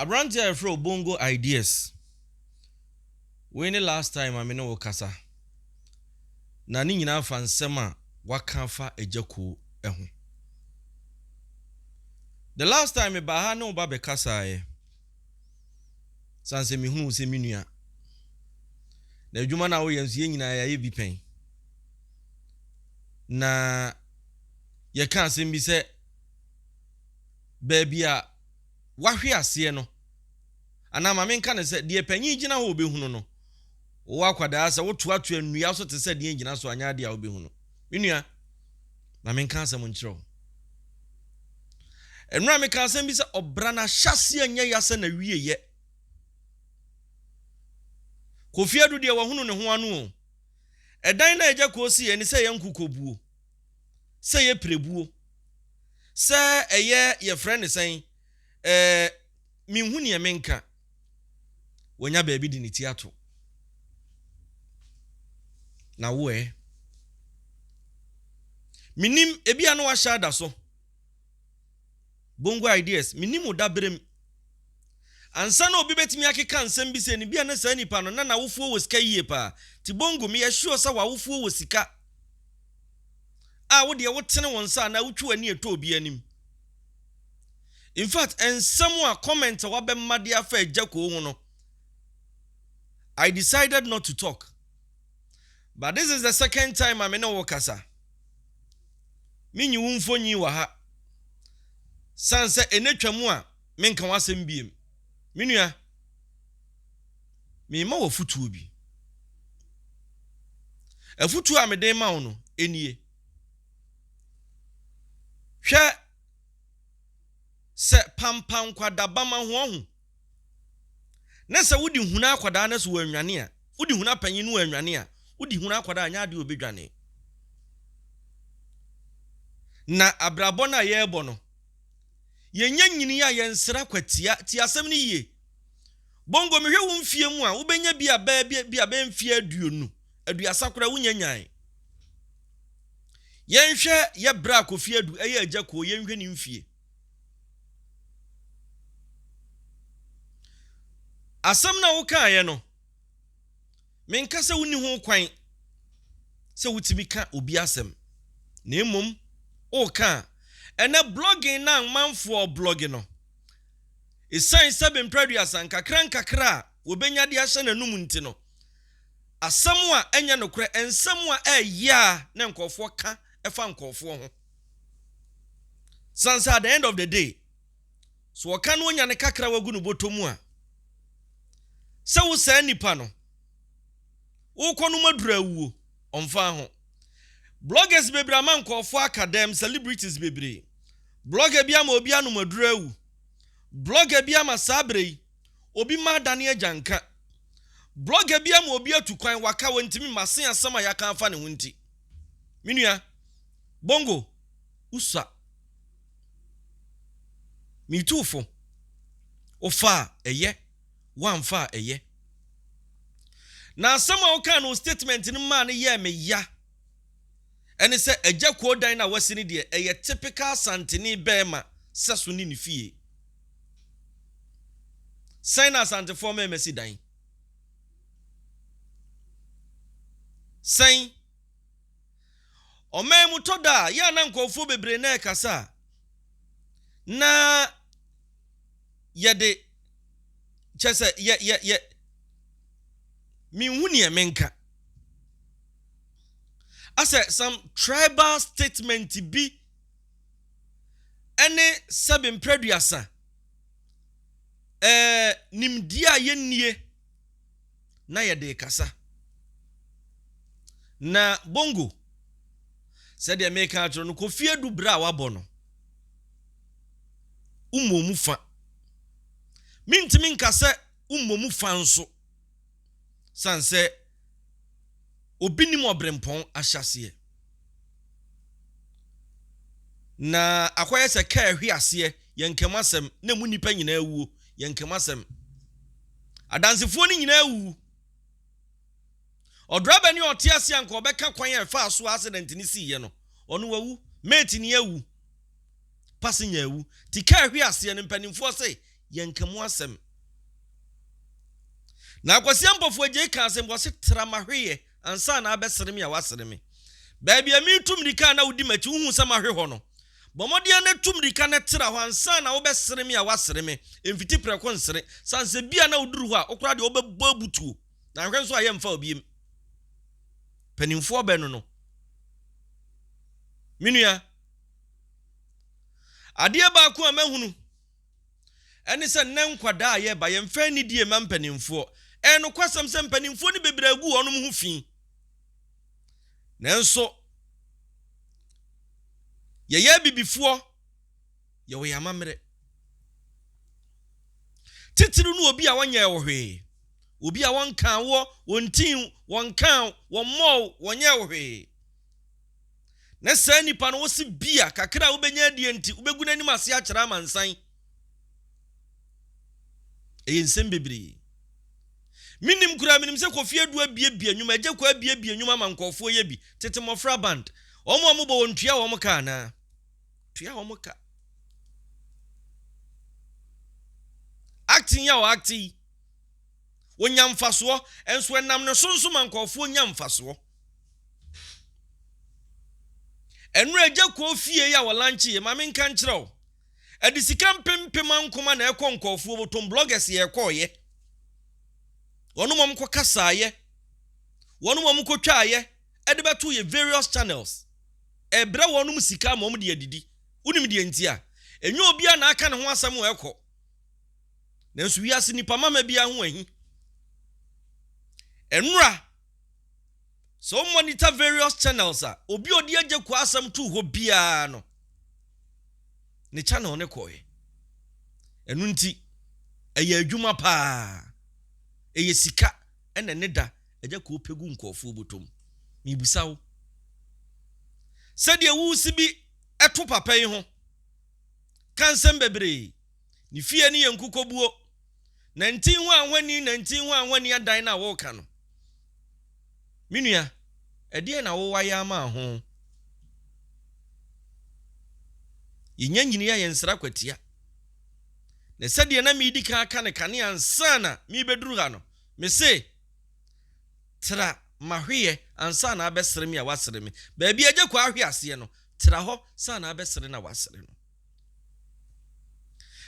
Aberanteɛ a yɛfrɛ wo Bongo Ideas, wei ne last time a me ne wo kasa, na ne nyinaa fa nsɛm a waka afa Agya Kuo ho. The last time me baa ha ne wo ba bɛ kasaeɛ, sane sɛ me hunu wo sɛ me nua, na adwuma no a woyɛ nso yɛn nyinaa yɛayɛ bi pɛn, na yɛka asɛm bi sɛ baabi a wahwe aseɛ no, anaa ma menka no sɛ, deɛ panin gyina hɔ ɔbɛhunu no, wowɔ akwadaa sɛ wotoatoa nnua so te sɛ deɛ ngyina so anyɛ adeɛ a wobɛhunu. Me nua, ma menka asɛm nkyerɛ wo. Nnora meka asɛm bi sɛ ɔbra no ahyɛseɛ nyɛ ya sɛ na wie yɛ. Kofi adu deɛ wahunu ne ho ano o. Ɛdan no a ɛgya kɔɔ si yɛ ne sɛ yɛ nkukobuo. sɛ ɛyɛ pirebuo, sɛ ɛyɛ yɛfrɛ no sɛn, ɛɛ menhu neɛ menka. Wanya baabi de ne ti ato. Na wo ɛ? Menim, ebia na wahyɛ ada so. Bongo ideas, menim wo daberem. Ansa na obi bɛtumi akeka nsɛm bi sɛ no, bia na saa nipa no, na n'awofoɔ wɔ sika yie paa. Ti Bongo, meyɛ sure sɛ w'awofoɔ wɔ sika. a wo deɛ wotene wo nsa anaa wotwi w'ani ɛtɔ obi anim. In fact, nsɛm a comment a wabɛma de afa agya koo ho no, I decided not to talk. But this is the second time a me ne wo kasa. Menyi wo mfonyin wɔ ha. San sɛ ɛnɛ twa mu a menka w'asɛm biem. Me nua. Merema wo afotuo bi. Afotuo a mede rema wo no nie, Hwɛ sɛ pampan nkwadaa ba ma wɔhu, na sɛ wode hunu akwadaa no sɛ wannwane a, wode hunu apanyin no wannwane a, wode hunu akwadaa a, ɛnyɛ adeɛ a ɔbɛdwane. Na abrabɔ no a yɛrebɔ no, yɛnya nyini a yɛnsra kwatia. Tie asɛm no yie. Bongo, mehwɛ wo mfeɛ mu a, wobɛnya bi a bɛɛ bi, bi a bɛɛ mfeɛ aduonu, aduasa koraa wonya nyae. Yɛnhwɛ yɛ berɛ a Kofi Adu ɛyɛ agya kuo, yɛnhwɛ ne mfeɛ. Asɛm no a wokaeɛ no, menka sɛ wonni ho kwan sɛ wotumi ka obi asɛm, na mmom woka a, ɛnɛ blogging no a mmanfoɔ blogge no, Esiane sɛ bempere aduasa nkakrankakra a wobenya de ahyɛ n'anom nti no, asɛm a ɛnyɛ nokorɛ, nsɛm a ɛyɛ yea na nkurɔfoɔ ka fa nkurɔfoɔ ho. Sane sɛ at the end of the day, sɛ wɔka no onya ne kakra a wagu no bɔtɔ mu a, sɛ wo saa nipa no, wokɔ nom aduru awuo, ɔmfa ho. Bloggers bebree ama nkurɔfoɔ aka dɛm, celebrities bebree. Blogger bi ama obi anom aduru awu. Blogger bi ama saa berɛ yi obi mma adane agyanka. Blogger bi ama obi atu kwan waka wantumi mma se asɛm a yɛaka afa ne ho nti. Me nua, Bongo, wosua. Metu wo fo. Wofaa ɛyɛ, woamfa a ɛyɛ. Na asɛm a wokaa no wo statement no maa no yɛɛ me ya. ɛne sɛ Agya Kuo dan no a wasi no deɛ ɛyɛ typical Santeni bɛɛma sɛso ne ne fie. Sɛn na Asantefoɔ mɛɛma si dan? Sɛn? Ɔman mu tɔ da a, yɛ a na nkurɔfoɔ bebree na ɛkasa a, na yɛde kyɛ sɛ yɛ yɛ yɛ menhu neɛ menka. asɛ some tribal statement bi ɛne sɛbe mprɛduasa ɛɛ nimdeɛ a yɛnnie na yɛde kasa. Na bongo sɛdeɛ meka akyerɛ no Kofi Adu berɛ a wabɔ no wommɔ mu fa. Mentumi nka sɛ wommɔ mu fa nso. Esiane sɛ obi nnim ɔberempɔn ahyɛaseɛ, na akɔyɛ sɛ kaa ahwi aseɛ, yɛn nka mu asɛm, na emu nnipa nyinaa awuo, yɛn nka mu asɛm. Adansefoɔ no nyinaa awuwu. Ɔdrɔbani a ɔte ase a nka ɔbɛka kwan a ɛfaa so a accident no siiɛ no, ɔno wawu. Mate ni awu. Passenger awu. Ti kaa ahwi aseɛ no, mpanimfoɔ se yɛnka mu asɛm. Na Akwasia Mpofu Adjei kaa sɛ, Mboase, tra m'ahwe yɛ ansa na abɛsere me a woasere me. Baabi a meretu mmirika a na wodi m'akyi, wohuu sɛ mahwe hɔ no. Bɔ mmɔden ara na tu mmirika na tra hɔ ansa na wobɛsere me a woasere me. Mfiti prɛko nsere. Sane sɛ bi a na woduru hɔ a, wo koraa deɛ wobɛbɔ abutuo. Na nhwɛ nso a yɛmfa wo biem. Mpanimfoɔ bɛno no. Me nua, adeɛ baako a mahunu, Ɛne sɛ nnɛ nkwadaa a yɛreba yɛmfa anidie mma mpanimfoɔ. Ɛyɛ nokwasɛm sɛ mpanimfoɔ no bebree agu wɔnom ho fi. Nanso yɛyɛ abibifoɔ, yɛwɔ yɛn amammerɛ. Titiriw no obi a wɔnyɛɛ wo hwee, obi a wɔnkaa woɔ, wɔntii wo, wɔnkaa wo, wɔmmɔɔ wo, wɔnyɛɛ wo hwee. na saa nipa no wose bia kakra a wobɛnya adie nti wobɛgu n'anim ase akyerɛ amansan. Ɛyɛ nsɛm bebree. Menim koraa menim sɛ Kofi Adu abiabia nnwuma, Agya Kwaa abiabia nnwuma ama nkurɔfoɔ yɛ bi, tete mmɔfra band. Wɔn a wɔbɔ wɔn tua wɔn ka anaa? Tua wɔn ka. Acting yi a wɔacte yi, wɔnya mfasoɔ, nso ɛnam ne so nso ma nkurɔfoɔ nya mfasoɔ. Ɛno a agya kɔɔ fie yi a ɔlanche yi, ma me nka nkyerɛ wo. Ɛde sika mpempem ankoma na ɛkɔ nkɔɔfoɔ mu, tom bloggers yɛ ɛkɔɔyɛ. Wɔnom wɔn kɔ kasaayɛ, wɔnom wɔn kɔ twaayɛ, ɛde bɛto yɛ various channels. Ɛbrɛ wɔnom sika ama wɔn de adidi. Wonim deɛ nti a? Ɛnyɛ obiara na aka ne ho asɛm wɔ ɛkɔ. Nanso wiase nipa mama biara ho ahi. Ɛnora. Sɛ wo monitor various channels a, obi a ɔde Agyekwaa asɛm too hɔ biara no, ne channel no kɔɔɛ. Ɛno nti, ɛyɛ adwuma paa. Ɛyɛ sika ɛna ɛne da ɛgya kɔɔ pɛ gu nkurɔfoɔ bɔtɔ mu. Mebisa wo, sɛdeɛ woresi bi ɛto papa yi ho, ka nsɛm bebree. Ne fie no yɛ nkukobuo. Nantin hɔ ahoni, nantin hɔ ahoni adan no a woreka no, me nua, ɛdeɛn na wo wayɛ ama ho? Yɛnya nyini a yɛnsra kwatia. Na sɛdeɛ na medi kan aka no kane ansa na merebɛduru ha no, mese, Tra m'ahweɛ ansa na abɛsere me a woasere me. Baabi a Agya Kwaa hwe aseɛ no, tra hɔ sa na abɛsere no a woasere no.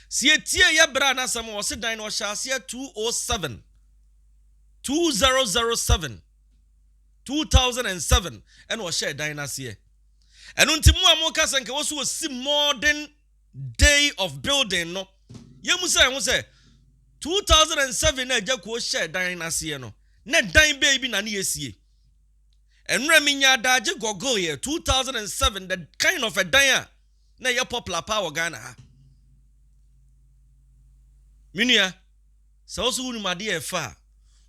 Sɛ yɛtie yɛ braa no asɛm a, ɔse dan no ɔhyɛɛ aseɛ 207, 2007, 2007 ɛna ɔhyɛɛ dan no aseɛ. Ɛno nti mo a moka sɛ nka wɔ so ɔsi modern day of building no, yɛmu sɛ ho sɛ 2007 na agya kuo hyɛɛ dan no aseɛ no, na dan bɛyi bi na ne yɛsie. Ɛnora menya adaagye gɔgɔeɛ 2007 the kind of a dan a na ɛyɛ popular paa wɔ Ghana ha. Me nua, sɛ wo so wonim adeɛ a ɛfɛ a,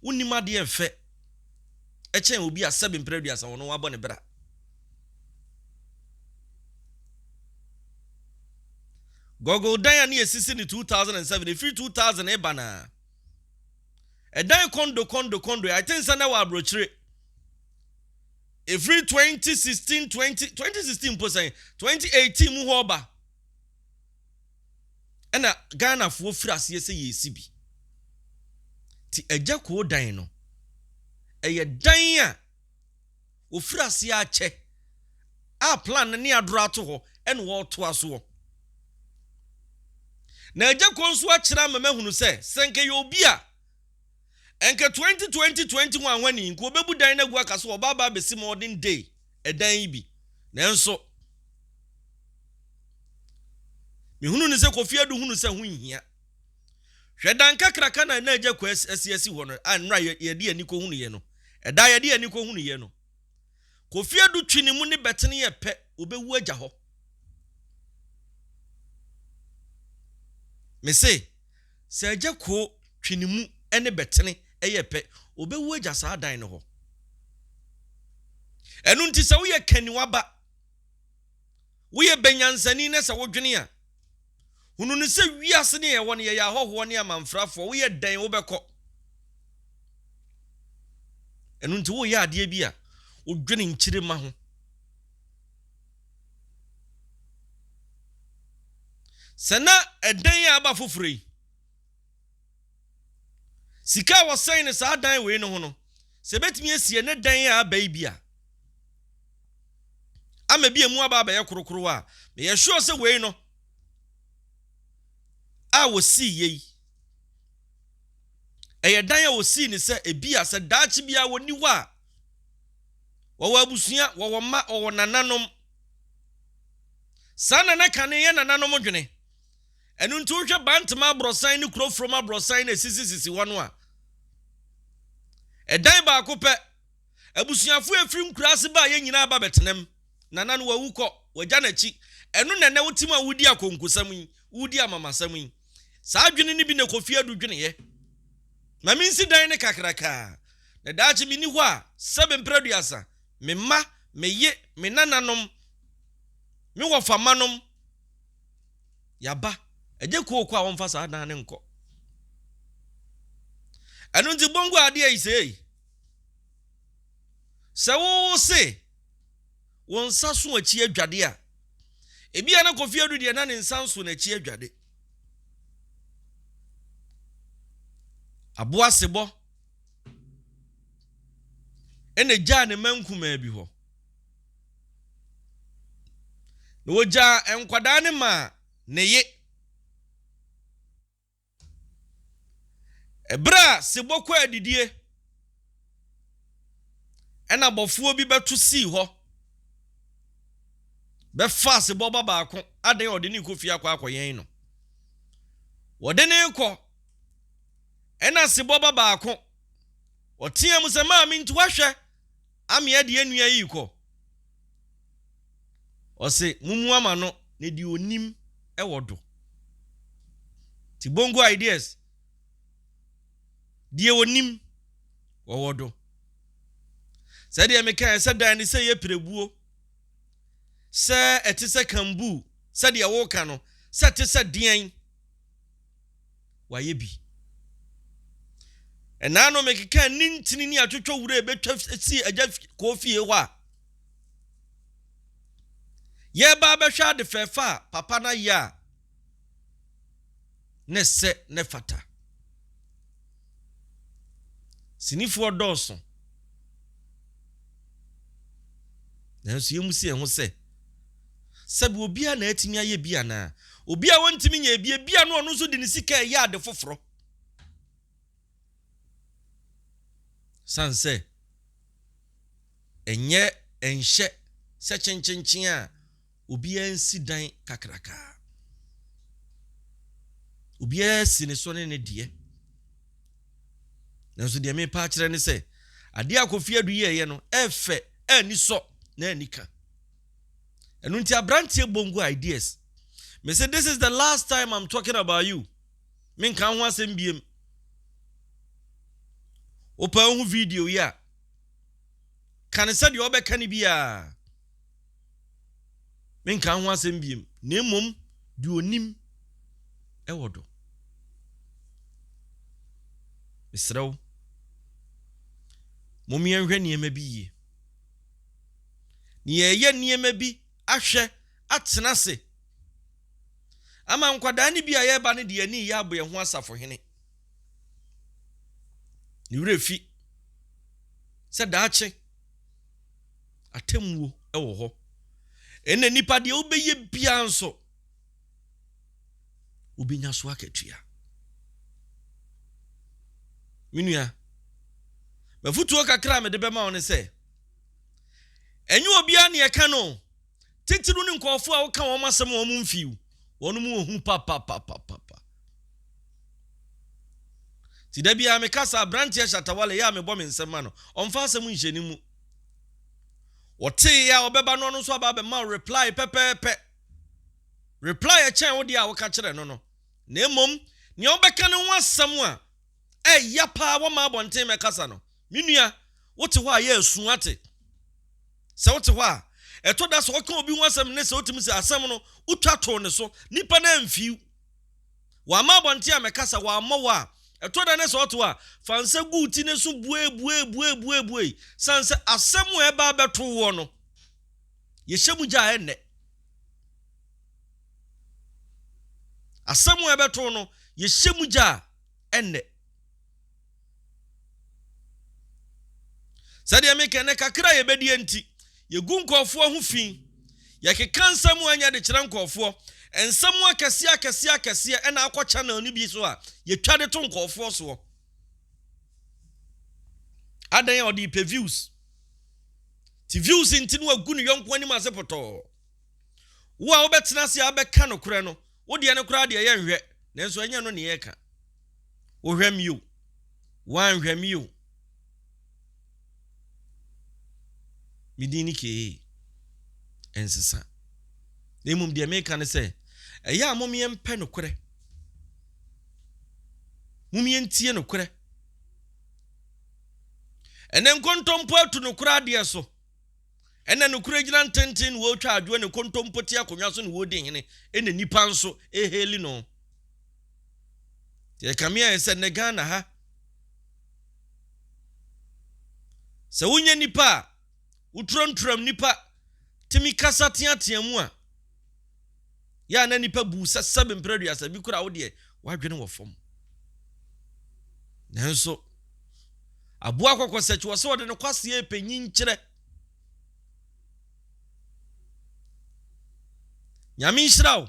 wonnim adeɛ a ɛfɛ ɛkyɛn obi a sɛbe mprɛ aduasa wɔno wabɔ ne bra. Gogol dan a ne yɛsisi ne 2007, ɛfiri 2000 ɛba no a, ɛdan kondo kondo kondo, I think sɛ na ɛwɔ aburokyire. Ɛfiri twenty sixteen twenty twenty sixteen mpo sɛn twenty eighteen mu hɔ reba ɛna Ghanafoɔ firi aseɛ sɛ yɛresi bi ti agya koo dan no ɛyɛ dan a wɔfiri aseɛ akyɛ a plan no ne adoro ato hɔ ɛna wɔreto asoɔ na agya koo nso akyerɛ ama mahunu sɛ sɛ nka yɛ obi a Ɛnka 20 20 20 ho ahoni nka obebu dan no agu aka sɛ ɔba aba abesi modern day ɛdan yi bi nanso mehunu no sɛ Kofi Adu hunu sɛ ho nhia hwɛ dan kakraka na na agya Kwesi asi hɔ no a nnora yɛde yɛn ani kɔhunu yɛ no ɛda yɛde yɛn ani kɔhunu yɛ no Kofi Adu twi ne mu ne bɛtene yɛ pɛ obewu agya hɔ. Me se sɛ agya koo twi ne mu ne bɛtene yɛ pɛ obewu agya saa dan no hɔ. Ɛno nti sɛ woyɛ kaniwaba, woyɛ bɛnyansani na sɛ wodwene a. Hunu no sɛ wiase no a yɛwɔ no, yɛyɛ ahɔhoɔ ne amanfrafoɔ. Woyɛ dɛn? Wobɛkɔ. Ɛno nti woyɛ adeɛ bi a, wodwene nkyirima ho. Sɛ na ɛdɛn a aba foforɔ yi. Sika a wɔsɛn no saa dan wei no ho no, sɛ ebetumi asi ɛnɛ dan a aba yi bi a, ama ebi emu aba abɛyɛ korokoro a, meyɛ sure sɛ wei no a wɔsii yɛ yi, ɛyɛ dan a wɔsii ne sɛ ebi a sɛ daakye biara wɔni hɔ a, wɔwɔ abusua, wɔwɔ mma, wɔwɔ nananom. Saa nana kane yɛ nananom dwene. Ɛno nti wohwɛ Bantama aborɔsan ne Kurofurom aborɔsan no a ɛsisisisi hɔ no a, ɛdan baako pɛ. Abusuafo a ɛfiri nkuraase baa yɛ nyinaa ba bɛtenam. Nana no wawu kɔ, wagya n'akyi. Ɛno na ɛnɛ wote mu a woredi akonkosɛm yi, woredi amamasɛm yi. Saa adwene no bi na Kofi Adu dweneeɛ. Ma mensi dan no kakrakaa, na daakye menni hɔ a, sɛbe mprɛduasa, me mma, me ye, me nananom, me wɔfammanom, Yaba, ɛnyɛ kooko a wɔmfa saa dan no nkɔ. Ɛno nti bongu adeɛ yi sei. Sɛ wowo se wo nsa so akyi adwade a, ebi a na Kofi Adu deɛ na ne nsa nso n'akyi adwade. Aboasebɔ ɛna gyaa ne mma nkumaa bi hɔ. Na wɔgyaa nkwadaa no maa ne ye. Ɛberɛ a sebɔ kɔ adidie, ɛna bɔfoɔ bi bɛto sii hɔ, bɛfaa sebɔ ba baako, adɛn ɔde ne kɔ fie akɔ akɔyɛn no. Wɔde ne kɔ, ɛna sebɔ ba baako, ɔteaa mu sɛ, maame nti wahwɛ. Amea de yɛn nua yi rekɔ. Ɔse mommua ma no na deɛ ɔnim wɔ do. Ti bongo ideas. Deɛ ɔnim wɔwɔ do. Sɛdeɛ mekaeɛ sɛ dan no sɛ yɛ pirebuo, sɛ ɛte sɛ kambuu, sɛdeɛ woka no, sɛ ɛte sɛ deɛn. wayɛ bi. Ɛnaa no mekekaa ne ntini ne atwotwɔ wura a ɛbɛtwa sii agya kɔɔ fie hɔ a yɛreba abɛhwɛ ade fɛɛfɛ a papa no ayɛ a ne sɛ ne fata. Sinifoɔ dɔɔso. Nanso yɛn mu si yɛn ho sɛ, sɛbi obiara na atumi ayɛ bi anaa? Obi a wɔntumi nyɛ bi, ebi a no ɔno nso de ne sika ɛyɛ ade foforɔ. San sɛ, ɛnyɛ ɛnhyɛ sɛ kyenkyenkyen a obiara nsi dan kakraka. Obiara si ne so ne ne deɛ. Nanso deɛ merepa akyerɛ ne sɛ, adeɛ a Kofi Adu yɛeɛ no, ɛfɛ, ani sɔ, na ani ka. Ɛno nti aberanteɛ bongo ideas. Me se this is the last time I'm talking about you. Menka ho asɛm biem. Wopɛ ho video yi a, ka ne sɛdeɛ ɔbɛka ne biara. Menkaa ho asɛm biom, na mmom deɛ ɔnim wɔ do. Mesrɛ wo, mom yɛnhwɛ nneɛma bi yie. Na yɛreyɛ nneɛma bi ahwɛ atena ase ama nkwadaa no bi a yɛreba no de ani reyɛ abɔ yɛn ho asafohene. Ne werɛ fi sɛ daakye atemmuo wɔ hɔ. Ɛna nipa deɛ wobɛyɛ biara nso, wobɛnya so akatua. Me nua, mafutuo kakra a mede bɛma wo ne sɛ, ɛnyɛ obiara ne ɛka no titiriw ne nkurɔfoɔ a woka wɔn asɛm a wɔn mfiw wɔn mu ohu papapapapa ti da biara mekasa aberanteɛ hyatawale yɛ a mebɔ me nsɛm ma no ɔmfa asɛm nhyɛ ne mu Wɔtee yɛ a ɔbɛba no ɔno nso aba abɛma wo reply pɛpɛɛpɛ. Reply ɛkyɛn wo deɛ a woka kyerɛ no no. Na mmom nea wobɛka no ho asɛm a ɛya paa wɔma abɔnten mɛkasa no. Me nua, wote hɔ a yɛ asu ate. Sɛ wote hɔ a, ɛtɔ da sɛ ɔka obi ho asɛm ne sɛ wotumi sɛ asɛm no wotwa too ne so, nipa no amfii. Wamma abɔnten ammɛkasa, wammɔ wo a, ɛtɔ da na sɛ ɔte hɔ a, fa nsa gu wo ti no so buebuebuebuebuei, sane sɛ asɛm a ɛba abɛto woɔ no, yɛhyɛ mu gya a ɛnnɛ. Asɛm a ɛbɛto no, yɛhyɛ mu gya a ɛnnɛ. Sɛdeɛ meka ɛnnɛ, kakra a yɛbɛdie nti, yɛgu nkurɔfoɔ ho fi. Yɛkeka nsɛm a ɛnyɛ de kyerɛ nkurɔfoɔ. Nsɛm akɛseɛ akɛseɛ akɛseɛ ɛna akɔ channel no bi so a yɛtwa de to nkurɔfoɔ soɔ. Adɛn a ɔde pɛ views. Ti views nti no agu ne yɔnko anim ase pɔtɔɔ. Wo a wobɛtena ase a abɛka nokorɛ no, Wo deɛ no koraa deɛ yɛnhwɛ nanso ɛnyɛ ɛno ne yɛreka. Wohwɛ me o, woanhwɛ me o. Me din ne Kee. Ɛnsesa. Na mmom deɛ meka ne sɛ, ɛyɛ a mom yɛmpɛ nokorɛ. Mom yɛntie nokorɛ. Ɛnɛ nkontompo atu nokorɛ adeɛ so. Ɛna nokorɛ gyina ntenten na wɔretwa adwoɔ ne kontompo te akonnwa so na wɔredi hene ɛna nnipa nso rehaili no. Nti ɛkame ayɛ sɛ nnɛ Ghana ha sɛ wonyɛ nipa a woturanturam nipa tumi kasa teatea mu a Yɛ a na nnipa bu wo sɛ sɛbe mpere aduasa, bi koraa wo deɛ w'adwene wɔ fam. Nanso, aboa kɔkɔsɛkyi wɔ sɛ ɔde ne kwaseɛ repɛ nyinkyerɛ. Nyame nhyira wo.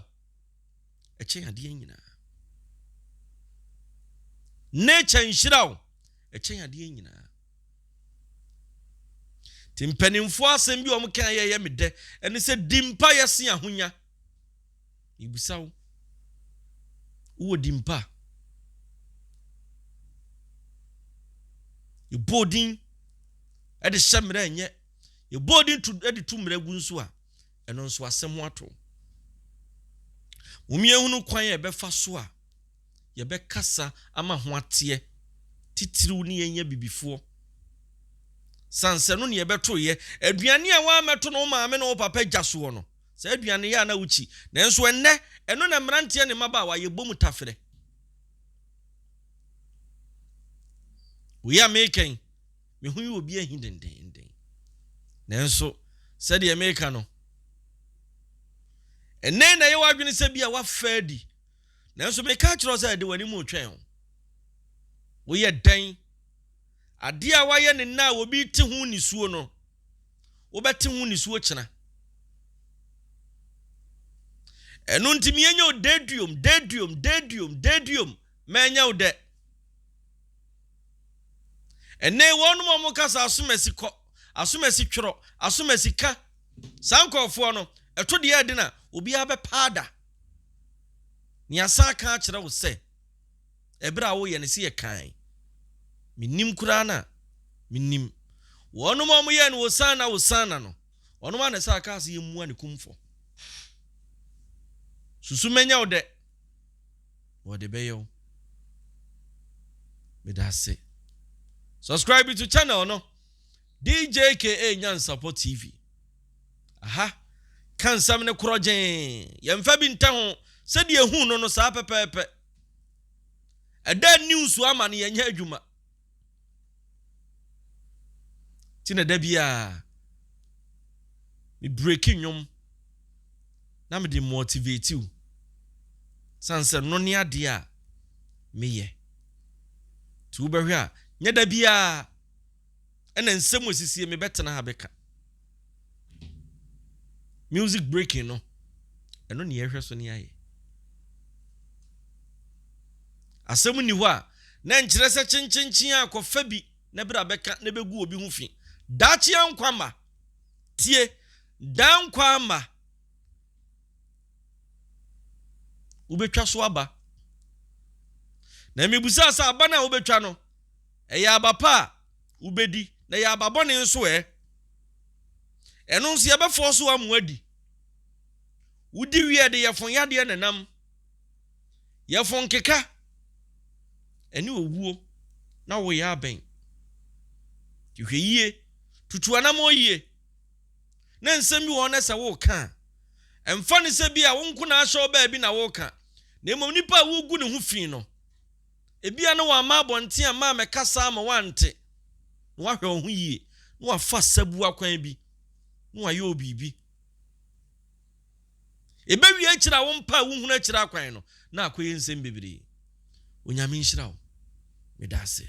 Ɛkyɛn adeɛ nyinaa. Nature nhyira wo. Ɛkyɛn adeɛ nyinaa. Nti mpanimfoɔ asɛm bi a wɔkaeɛ ɛyɛ me dɛ ɛne sɛ di mpaeɛ se ahonya. Mebisa wo, wowɔ di mpa? Yɛbɔ odin de hyɛ mmerɛ ɛnyɛ. Yɛbɔ odin to de to mmerɛ gu nso a, ɛno nso asɛm ho ato. Wɔn yɛhunu kwan a ɛbɛfa so a. yɛbɛkasa ama ho ateɛ titiriw ne yɛn abibifoɔ. Sansɛ no na yɛbɛto yɛ. Aduane a woammɛto no wo maame ne wo papa gya soɔ no, saa aduane yɛ a na wokyi. Nanso ɛnnɛ, ɛno na mmeranteɛ ne mmabaawa yɛbɔ mu tafere. Wei a mereka yi, me ho yi obi ahi dendenden. Nanso sɛdeɛ mereka no, ɛnnɛ na yɛwɔ adwene sɛ bi a woafa adi. Nanso meka kyerɛ wo sɛ, de w'anim retwɛn wo. Woyɛ dɛn? Adeɛ a woayɛ no nnɛ a obi rete ho nisuo no, wobɛte ho nisuo kyena. Ɛno nti menyɛ wo deduom, deduom, deduom, deduom, mɛnyɛ wo dɛ. Ɛnɛ wɔnom a wɔka sɛ asomasi kɔ, asomasi twerɛ, asomasi ka, saa nkurɔfoɔ no, ɛto deɛ ɛde na obiara bɛpaada. Na yɛasan aka akyerɛ wo sɛ, Ɛberɛ a woreyɛ no, se yɛ kann. Mennim koraa no a, mennim. Wɔnom a wɔyɛɛ no Hosanna, Hosanna no, wɔnom ara na ɛsɛ akaa se yɛmmua ne kumfɔ. Susu mɛnyɛ wo dɛ, na wɔde bɛyɛ wo. Meda ase. Subscribe to channel no, DJKA Nyansapɔ TV. Aha, ka nsɛm no korɔgyenn. Yɛmfa bi nta ho, sɛdeɛ yɛhuu no no, saa pɛpɛɛpɛ. Ɛda news so ama no yɛnyɛ adwuma. Nti na da biara, me breki nnwom na mede motivate wo. Sane sɛ no ne adeɛ a meyɛ. Nti wobɛhwɛ a, nyɛ da biara. ɛna nsɛm esisie mebɛtena ha bɛka music breaking no ɛno ne yɛhwɛ so ne ayɛ asɛm nni hɔ a na nkyerɛ sɛ kyenkyenkyen a kɔfa bi na bere a bɛka na bɛgu obi ho fi daakye ankwa ma tie daa nkwa ama wobɛtwa so aba na mebusaa sɛ aba no a wobɛtwa no Ɛyɛ aba pa a, wobɛdi, na ɛyɛ aba bɔne nso ɛ? Ɛno nso yɛbɛfɔɔ so ama woadi. Wodi wie a, ɛde yɛfo yadeɛ na ɛnam. Yɛfo nkeka, ɛne owuo, na woyɛ abɛn. Nti hwɛ yie, tutu anammɔn yie. Na nsɛm bi wɔ hɔ na sɛ woreka a, ɛmfa no sɛ bi a wo nko na ahyɛ wo baabi na woreka, na mmom nipa a wogu ne ho fi no. Ebia na wamma abɔnten amma ammɛkasa ama woante, na woahwɛ wo ho yie, na woafa asabuwa kwan bi, na woayɛ wo biribi. Ɛbɛwie akyiri a wompae wohunu akyiri akwan no, na akɔyɛ nsɛm bebree. Onyame nhyira wo. Meda aseɛ.